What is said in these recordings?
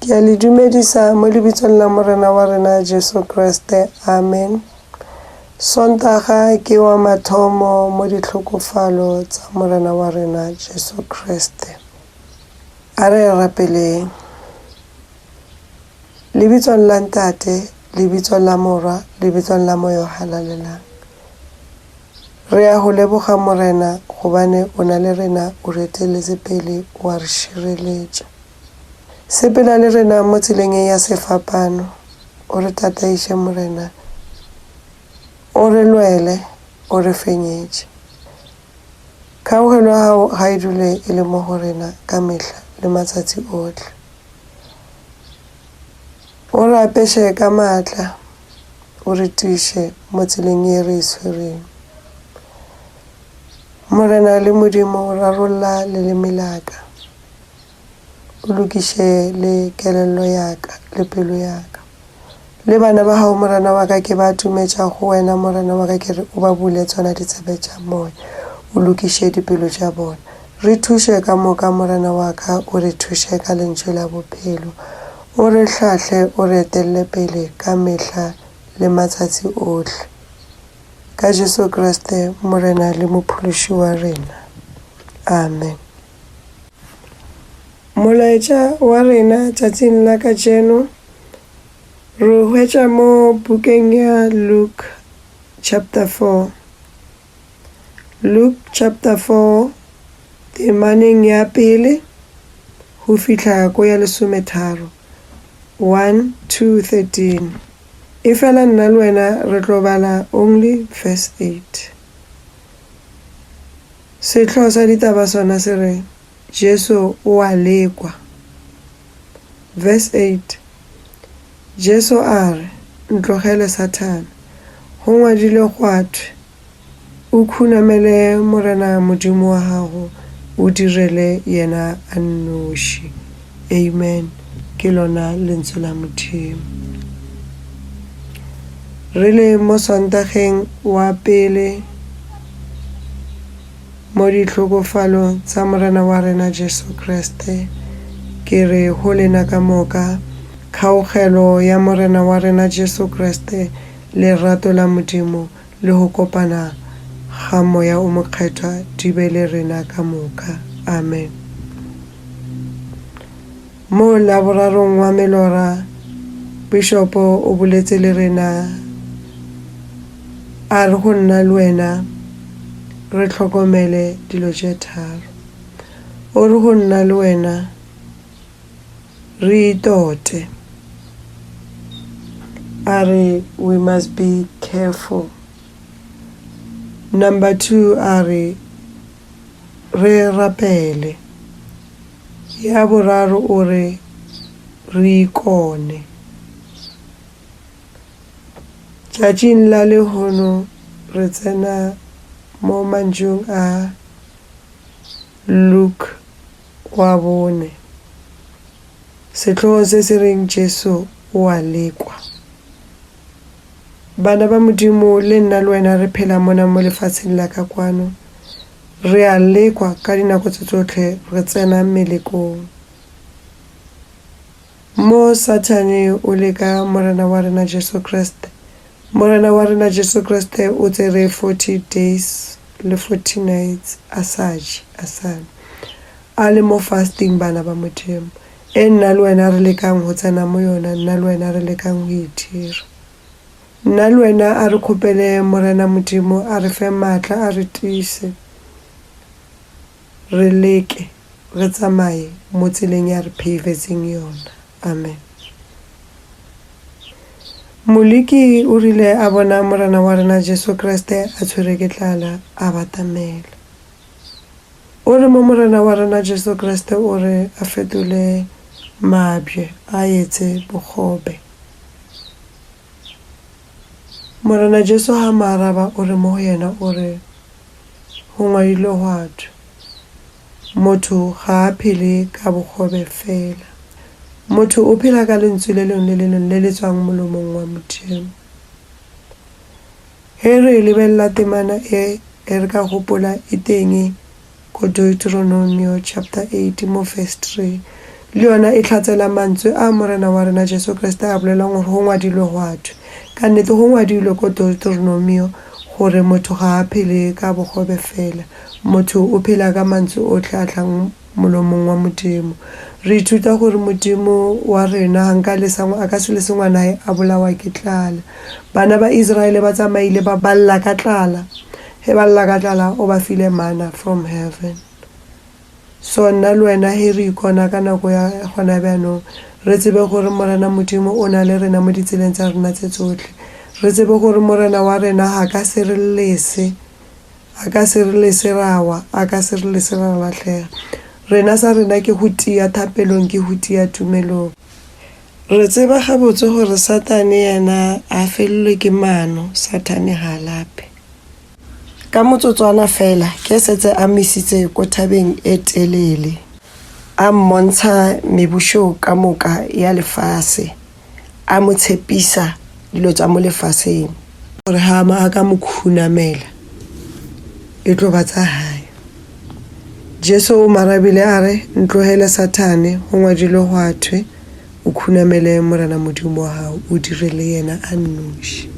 Ke a le dumedisa mo lebitsong la Morena wa rena Jesu Kriste. Amen. Sontaga ke wa mathomo mo ditlhokofalo tsa Morena wa rena Jesu Kriste. A re rapeleng. Lebitsong la Ntate, lebitsong la Morwa, lebitsong la Moyo Halalelang. Re a go leboga, Morena, gobane o na le rena, o re eteletse pele, o a re šireletša. Sepela le rena mo tseleng e ya sefapano, o re tataiše, Morena, o re lwele, o re fenyetše. Kgaogelo ya gago ga e dule e le mo go rena ka mehla le matsatsi ohle. O re apeše ka maatla, o re tiiše mo tseleng ye re e swerego. Morena le Modimo, rarolla leleme la ka, o lokiše le kelello ya ka le pelo ya ka. Le bana ba gago, morena wa ka, ke ba tumetša go wena, morena wa ka, ke re o ba bule tsona ditsebe tša moya, o lokiše dipelo tša bona. Re thuše ka moka, morena wa ka, o re thuše ka lentšu la bophelo, O re hlahle o re etelele pele ka mehla le matsatsi ohle. Ka Jesu Kriste Morena le Mophološi wa rena. Amen. Molaetša wa rena tšatšing la kajeno re o hwetša mo bukeng ya Luke chapter 4. Luke chapter 4 temaneng ya pele go fihla ko ya lesometharo 1 to 13 efela nna le wena re tlo bala only verse 8. Sehlo sa ditaba sona se re Jesu o a lekwa. Verse 8, Jesu a re, Ntlogele, Sathane! Go ngwadilwe gwa thwe, O khunamele Morena Modimo wa gago, o direle yena a nnoši. Amen. Ke lona Lentswe la Modimo. Re le mo Sontageng wa pele. Mo dihlokofalong tsa Morena wa rena Jesu Kriste, ke re go lena ka moka, kgaogelo ya Morena wa rena Jesu Kriste, lerato la Modimo le go kopana ga Moya o Mokgethwa di be le rena ka moka. Amen. Mo Laborarong wa melora, Bishopo o boletše le rena, a re go nna le wena re hlokomele dilo tše tharo. O re go nna le wena re itote, a re we must be careful. Number two, a re re rapele. Ya boraro o re, Re ikone. Tšatšing la lehono re tsena mo mantšung a Luke wa bone, sehlogong se se reng Jesu o a lekwa. Bana ba Modimo le nna le wena re phela mona mo lefaseng la ka kwano. Re a lekwa ka dinako tse tsotlhe re tsena melekong. Mo Sathane o leka Morena wa rena Jesu Kriste, Morena wa rena Jesu Kriste o tsere 40 days le 40 nights a sa je, a sa nwe. A le mo fasting bana ba Modimo. E nna le wena re lekang go tsena mo yona, nna le wena re lekang go e dira. Nna le wena a re kgopele Morena Modimo a re fe maatla, a re tiise, re leke, re tsamaye mo tseleng ya re pheifetseng yona. Amen. Moliki o rile a bona Morena wa rena Jesu Kriste a tshwere ke tlala, a batamela. O re mo Morena wa rena Jesu Kriste o re a fetole mabje a etse bogobe. Morena Jesu ha mo araba o re mo go yena o re, Go ngwadilwe gwa thwe, Motho ga a phele ka bogobe fela. Motho o phela ka lentswi le lengwe le le lengwe le le tswang molomong wa Modimo. Ge re lebelela temana e, re ka gopola e teng ko Deuteronomio chapter 8 mo verse 3. Le yona e hlatsela mantswe a Morena wa rena Jesu Kriste a bolelang gore go ngwadilwe gwa thwe. Ka nnete go ngwadilwe ko Deuteronomio gore motho ga a phele ka bogobe fela, motho o phela ka mantswe ohle a tlang molomong wa Modimo. Re ithuta gore Modimo wa rena ga nka lesa, a ka se lese ngwanaye a bolawa ke tlala. Bana ba Israele ba tsamaile ba ba lla ka tlala, ge ba lla ka tlala o ba file manna from heaven. So nna le wena ge re ikona ka nako ya gona bjanong, re tsebe gore Morena Modimo o na le rena mo ditseleng tsa rena tse tsohle. Re tsebe gore Morena wa rena ga ka se re lese. A ka se re lese ra wa, A ka se re lese ra lahlega. Rena sa rena ke go tia thapelong, ke go tia tumelong. Re tseba gabotse gore Satane yena a felelwe ke mano, Satane ga a lape. Ka motsotswana fela ke setse a mmisitse ko thabeng e telele, a mmontsha mebušo ka moka ya lefase. a mo tshepisa dilo tša mo lefaseng. Gore ha a ka mo khunamela, e tlo ba tsa hae. Jesu o mo arabile a re, Ntlogele Sathane, go ngwadilwe gwa thwe, O khunamele Morena Modimo wa gago, o dire le yena a nnoši.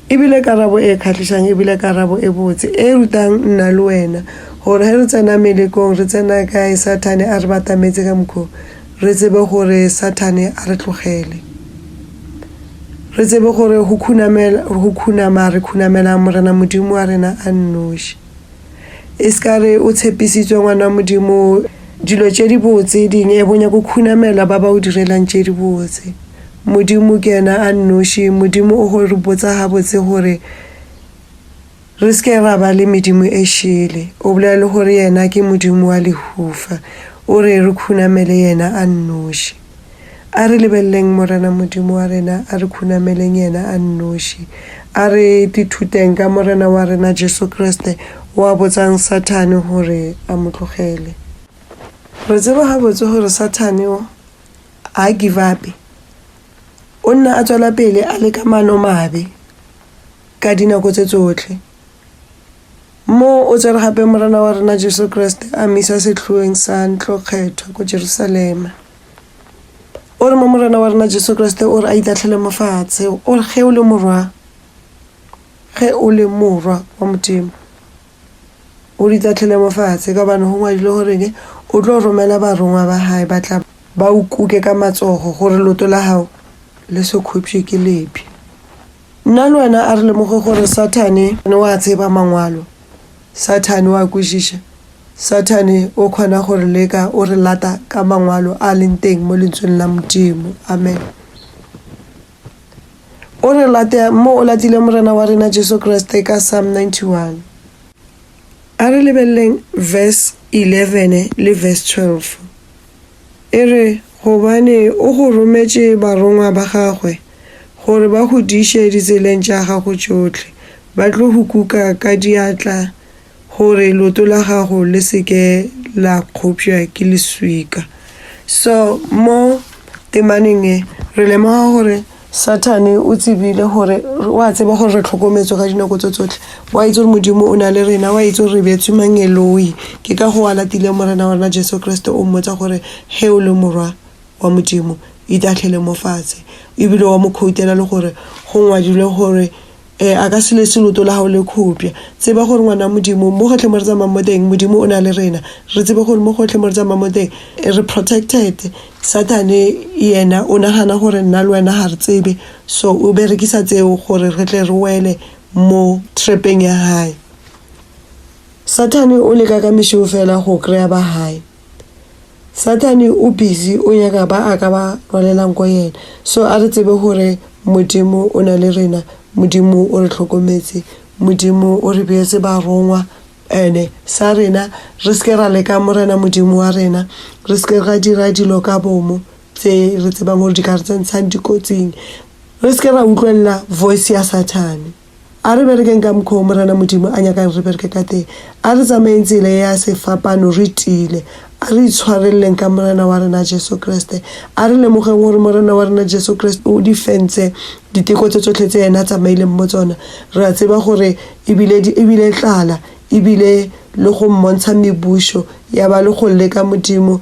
E bile karabo e kgahlišang, e bile karabo e botse, e rutang nna le wena gore ge re tsena melekong, re tsena kae, Sathane a re batametse ka mokgwa wo. Re tsebe gore Sathane a re tlogele. Re tsebe gore go khunamela, go khunama re khunamelang Morena Modimo wa rena a nnoši. E se ka re o tshepisitswe, ngwana wa Modimo, dilo tše dibotse ding e bonya go khunamela ba ba o direlang tše dibotse. Modimo ke yena a nnoši, Modimo o go re botsa gabotse gore, Re se ke ra ba le medimo e šele. O bolela le gore yena ke Modimo wa lehufa. O re re khunamele yena a nnoši. A re lebeleleng Morena Modimo wa rena, a re khunameleng yena a nnoši. A re ithuteng ka Morena wa rena Jesu Kriste, o a botsang Sathane gore a mo tlogele. Re tseba gabotse gore Sathane o a give-upe. O nna a tswela pele a leka maanomabe. ka dinako tše tsohle. Mo o tsere gape Morena wa rena Jesu Kriste a mmisa sehloeng sa ntlo kgethwa ko Jerusalema. O re mo Morena wa rena Jesu Kriste o re a itahlele mo fatshe, o re ge o le morwa, ge o le morwa wa Modimo, o re itahlele mo fatshe ka gobane go ngwadilwe gore ke o tlo romela barongwa ba gae ba tla ba o kuke ka matsogo gore loto la gago le se khwepšwe ke lebi. Nna le wena a re lemoge gore Sathane o a tseba Mangwalo. Sathane o a kwešiša. Sathane o kgona go re leka, o re lata ka Mangwalo a a leng teng mo Lentsweng la Modimo. Amen. O re lata mo o latileng Morena wa rena Jesu Kriste ka Psalm 91. A re lebeleleng verse 11 le verse 12. E re, Gobane o go rometše barongwa ba gagwe, gore ba go diše ditseleng tša gago tšohle, ba tlo go kuka ka diatla, gore leoto la gago le se ke la kgopša ke leswika. So, mo temaneng e, re lemoga gore. Sathane o tsebile gore o a tseba gore re tlhokometswe ka dinako tso tsotlhe o a itse gore modimo o na le rena o a itse gore re beetswe mangeloi ke ka go a latile morena wa rena jesu kriste o mmotsa gore ge o le morwa wa modimo itahlele mo fatshe ebile wa mo khoutela le gore go ngwadilwe gore Ee, a ka se lese loto la gago le khopša. Tseba gore ngwana wa Modimo, mo gohle mo re tsamang mo teng, Modimo o na le rena. Re tsebe gore mo gohle mo re tsamang mo teng, re protected. Sathane yena o nagana gore nna le wena ga re tsebe, so o berekisa tseo gore re tle re wele mo trepeng ya gae. Sathane o leka ka mešeo fela go kry-a ba gae. Sathane o busy o nyaka ba a ka ba rwalelang ko yena so a re tsebe gore Modimo o na le rena Modimo o re tlhokometse Modimo o re beetse barongwa ene sa rena re seke ra leka morena Modimo wa rena re seke ra dira dilo ka bomo tse re tsebang gore di ka re tsentshang dikotsing re seke ra utlwelela voice ya Sathane. A re berekeng ka mokgwa wo Morena Modimo a nyakang re bereke ka teng. A re tsamayeng tsela ye ya sefapano re tiile. A re itshwareleleng ka Morena wa rena Jesu Kriste. A re lemogeng gore Morena wa rena Jesu Kriste o di fentse diteko tše tšohle tše yena a tsamaileng mo tsona, re a tseba gore e bile di e bile tlala, e bile le go mmontsha mebušo ya ba le go leka Modimo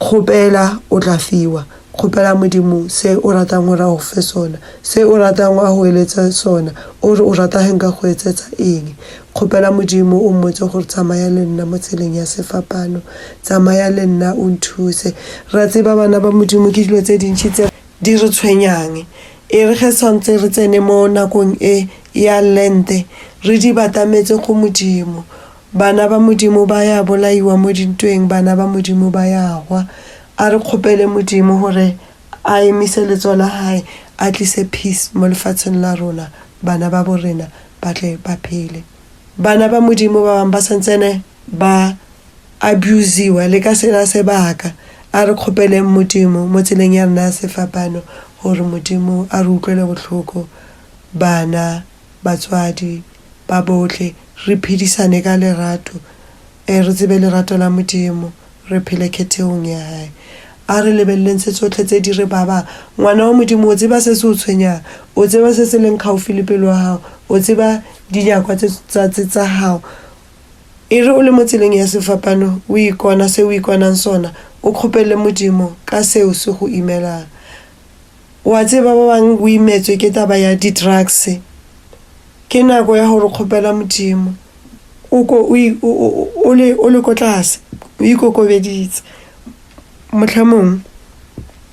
Kgopela, o tla fiwa. Kgopela Modimo se o ratang gore a go fe sona, se o ratang a go eletse sona, o re o rata ge nka go etsetsa eng. Kgopela Modimo, o mmotse gore, Tsamaya le nna mo tseleng ya sefapano. Tsamaya le nna o nthuse. Re a tseba, bana ba Modimo, ke dilo tse dintši tse di re tshwenyang. E re ge swantse re tsene mo nakong e ya Lente, re di batametse go Modimo. Bana ba Modimo ba ya bolaiwa mo dintweng, bana ba Modimo ba ya hwa. A re kgopele Modimo gore a emise letsogo la Hae, a tlise peace mo lefatsheng la rona, bana ba bo rena ba tle ba phele. Bana ba Modimo ba bangwe ba sa ntsene ba abusiwa le ka sela sebaka. A re kgopeleng Modimo mo tseleng ya rena ya sefapano gore Modimo a re utlwele bohloko bana batswadi ba bohle, re phedisane ka lerato, ee, re tsebe lerato la Modimo, re phele khetheong ya Hae. A re lebeleleng tse tsohle tse di re babang. Ngwana wa Modimo, o tseba se se o tshwenyang, o tseba se se leng kgaufi le pelo ya gago, o tseba dinyakwa tse, tsa, tse, tsa gago. E re o le mo tseleng ya sefapano, o ikona se o ikonang sona, o kgopele Modimo ka seo se go imelang. O a tseba, ba bangwe o imetswe ke taba ya di-drugs. Ke nako ya gore kgopela Modimo, o ko o i- o- o- o le o le ko tlase, o ikokobeditse. Mohlomong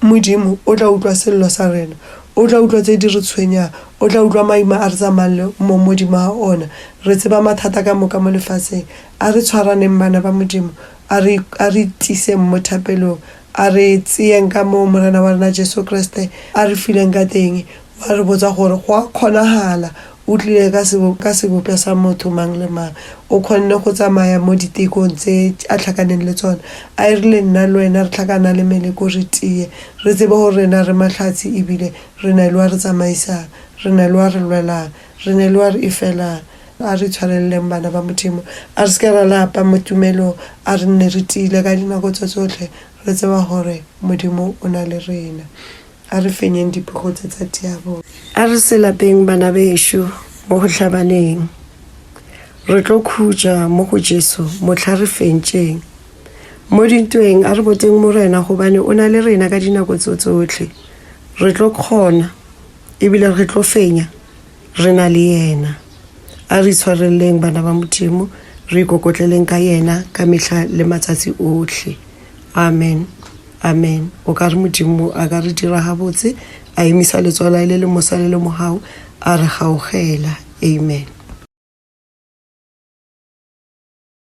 Modimo o tla utlwa sello sa rena, o tla utlwa tse di re tshwenyang, o tla utlwa maima a re tsamayang le mo modimo ga ona. Re tseba mathata ka moka mo lefatsheng. A re tshwaraneng, bana ba Modimo, a re a re tiiseng mo thapelong. A re tseyeng ka moo Morena wa rena Jesu Kriste a re fileng ka teng, wa re botsa gore, Go a kgonahala? O tlile ka sebo, ka sebopša sa motho mang le mang. O kgonne go tsamaya mo ditekong tse A hlakaneng le tsona. A e rile nna le wena re hlakana le meleko re tiye, re tsebe gore rena re mahlatse ebile re na le wa re tsamaisang, re na le wa re lwelang, re na le wa re efelang. A re tshwareleleng bana ba Modimo, a re se ke ra lapa mo tumelong, a re nne re tiile ka dinako tša tšohle, re tseba gore Modimo o na le rena. A re fenyeng dipego tše tsa diabolo. A re se lapeng bana bešo mo go hlabaneng, re tlo khutša mo go Jesu mohla re fentšeng. Mo dintweng a re boteng Morena gobane o na le rena ka dinako tso tsohle, re tlo kgona ebile re tlo fenya. Re na le Yena. A re itshwareleng, bana ba Modimo, re ikokotleleng ka Yena ka mehla le matsatsi ohle. Amen. Amen. O ka re, Modimo a ka re dira gabotse, a emisa letsogo la Hae le le mosa le le mogau, a re gaogela. Amen.